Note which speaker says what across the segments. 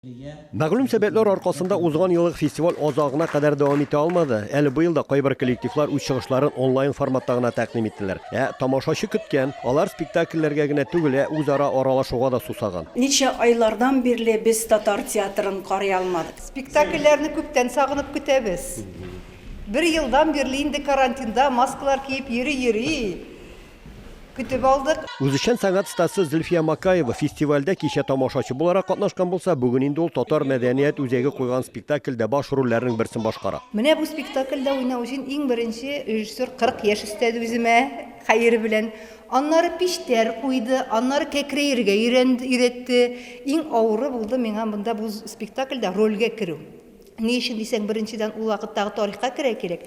Speaker 1: Мәгълүм сәбәпләр аркасында узган елгы фестиваль азагына кадәр дәвам итә алмады. Әле быел да кайбер коллективлар үз чыгышларын онлайн форматта гына тәкъдим иттеләр. Ә тамашачы көткән. Алар спектакльләргә генә түгел, ә үзара аралашуга да сусаган. Ничә айлардан
Speaker 2: бирле без татар театрын карый алмадык. Спектакльләрне күптән
Speaker 3: сагынып көтәбез. Бер елдан бирле инде карантинда маскалар киеп йөри-йөри, көтеп алдык. Үзешчән сәнгать стасы
Speaker 1: Зөлфия Макаева фестивальдә кичә тамашачы буларак катнашкан булса, бүген инде ул Татар мәдәният үзәге куйган спектакльдә баш рольләрнең берсен башкара. Менә бу спектакльдә
Speaker 3: уйнау өчен иң беренче режиссер 40 яшь өстәде үземә, хәер белән. Аннары пиштәр куйды, аннары кәкрәергә өйрәтте. Иң авыры булды миңа монда бу спектакльдә рольгә керү. Ни өчен дисәң, беренчедән ул вакыттагы тарихка керә кирәк.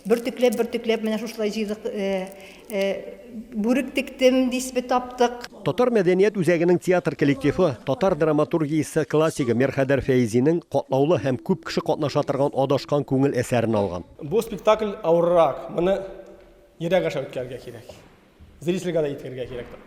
Speaker 3: Бөртекләп, бөртекләп менә шушылай җыйдык, э, э, бүрек тектем, дисбе таптык. Татар мәдәният
Speaker 1: үзәгенең театр коллективы татар драматургиясе классигы Мирхәйдәр Фәизинең катлаулы һәм күп кеше катнаша торган Адашкан күңел әсәрен алган. Бу спектакль
Speaker 4: авыррак, моны ерак аша үткәрергә кирәк. Зрительгә дә еткерергә кирәк тә,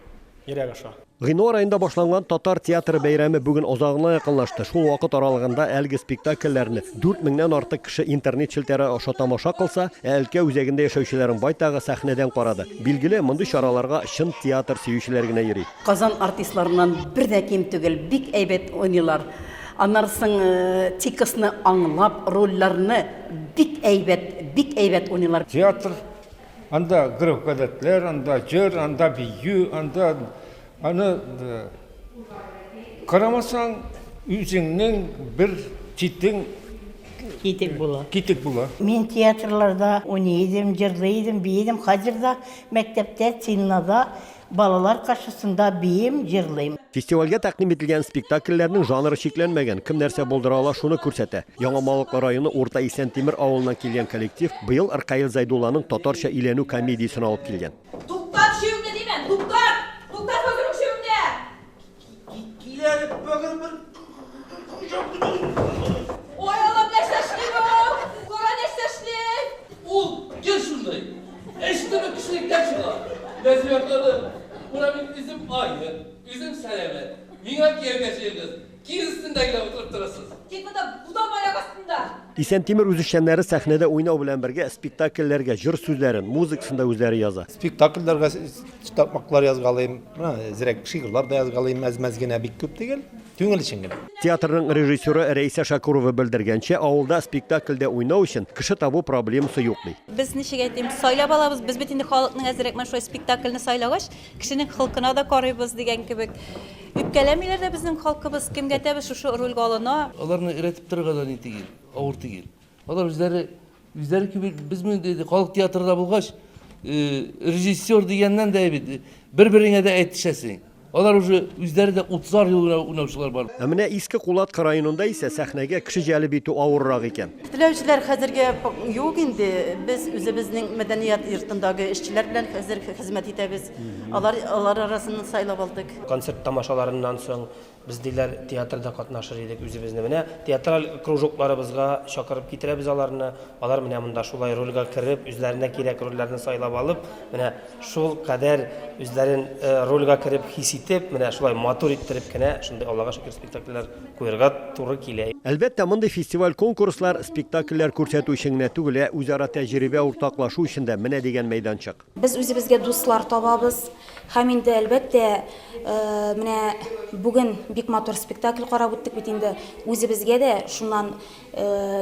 Speaker 4: йөрәк аша. Гыйнвар аенда башланган
Speaker 1: Татар театры бәйрәме бүген азагына якынлашты. Шул вакыт аралыгында әлеге спектакльләрне дүрт меңнән артык кеше интернет челтәре аша тамаша кылса, ә өлкә үзәгендә яшәүчеләрнең байтагы сәхнәдән карады. Билгеле, мондый чараларга чын театр сөючеләр генә йөри. Казан артистларыннан
Speaker 2: бер дә ким түгел, бик әйбәт уйныйлар. Аннары соң текстны аңлап, рольләрне бик әйбәт, бик әйбәт уйныйлар. Театр
Speaker 5: Анда гөреф-гадәтләр, анда җыр, анда бию, анда аны карамасаң, үзеңнең бер читең Китек
Speaker 6: була. Китек була. Мин
Speaker 5: театрларда
Speaker 6: уйный идем, җырлый идем, бии идем. Хәзер дә мәктәптә, циннада Балалар каршысында биим, җырлыйм. Фестивальгә тәкъдим
Speaker 1: ителгән спектакльләрнең жанры чикләнмәгән, кем нәрсә булдыра ала, шуны күрсәтә. Яңа Малыклы районы Урта Исәнтимер авылыннан килгән коллектив быел Ркаил Зәйдулланың Татарча өйләнү комедиясен алып килгән. Туктат чөеңне,
Speaker 7: димен! Туктат! Туктат, бөкрем чөеңне! Исән Тимер
Speaker 1: үзешчәннәре сәхнәдә уйнау белән бергә спектакльләргә җыр сүзләрен, музыкасын да үзләре яза. Спектакльләргә
Speaker 8: Титапмаклар язгалыйм, зирәк шигырьләр дә язгалыйм, әз-мәз генә, бик күп түгел, түңел өчен генә. Театрның режиссеры
Speaker 1: Рәйсә Шакурова белдергәнчә, авылда спектакльдә уйнау өчен кеше табу проблемасы юк, ди. Без, ничек әйтим,
Speaker 9: сайлап алабыз, без бит инде халыкның әзрәк менә шулай спектакльне сайлагач, кешенең холкына да карыйбыз дигән кебек. Үпкәләмиләр дә безнең халкыбыз, кемгә тәбез шушы рольгә алына. Аларны өйрәтеп торырга
Speaker 10: да ни түгел, авыр түгел. Алар үзләре, үзләре кеби, без менә диде, халык театрында булгач, режиссер дигәннән дә бит, бер-береңә дә әйтешәсең. Алар уже үзләре дә 30 ел гына уйнаучылар бар. Ә менә Иске Кулатка
Speaker 1: районында исә сәхнәгә кеше җәлеп итү авыррак икән. Теләүчеләр хәзергә
Speaker 2: юк инде. Без үзебезнең мәдәният йортындагы эшчеләр белән хәзер хезмәт итәбез. Алар, алар арасыннан сайлап алдык. Концерт тамашаларыннан
Speaker 4: соң Без, диләр, театрда катнашыр идек үзебезне. Менә театраль кружокларыбызга чакырып китерәбез аларны. Алар менә монда шулай рольгә кереп, үзләренә кирәк рольләрне сайлап алып, менә шул кадәр үзләрен рольгә кереп хис итеп, менә шулай матур иттереп кенә шундый Аллага шөкер спектакльләр куерга туры килә. Әлбәттә, мондый
Speaker 1: фестиваль-конкурслар спектакльләр күрсәтү өчен генә түгел, ә үзара тәҗрибә уртаклашу өчен дә менә дигән мәйданчык. Без үзебезгә дуслар
Speaker 9: табабыз һәм инде, әлбәттә, менә бүген бик матур спектакль карап үттек бит инде, үзебезгә дә шуннан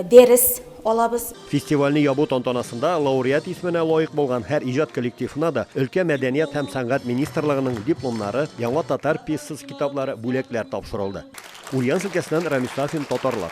Speaker 9: дәрес алабыз. Фестивальне ябу
Speaker 1: тантанасында лауреат исеменә лаек булган һәр иҗат коллективына да өлкә мәдәният һәм сәнгать министрлыгының дипломнары, яңа татар пьесасы китаплары, бүләкләр тапшырылды. Ульяновск өлкәсеннән Рамис Сафин, Татарлар.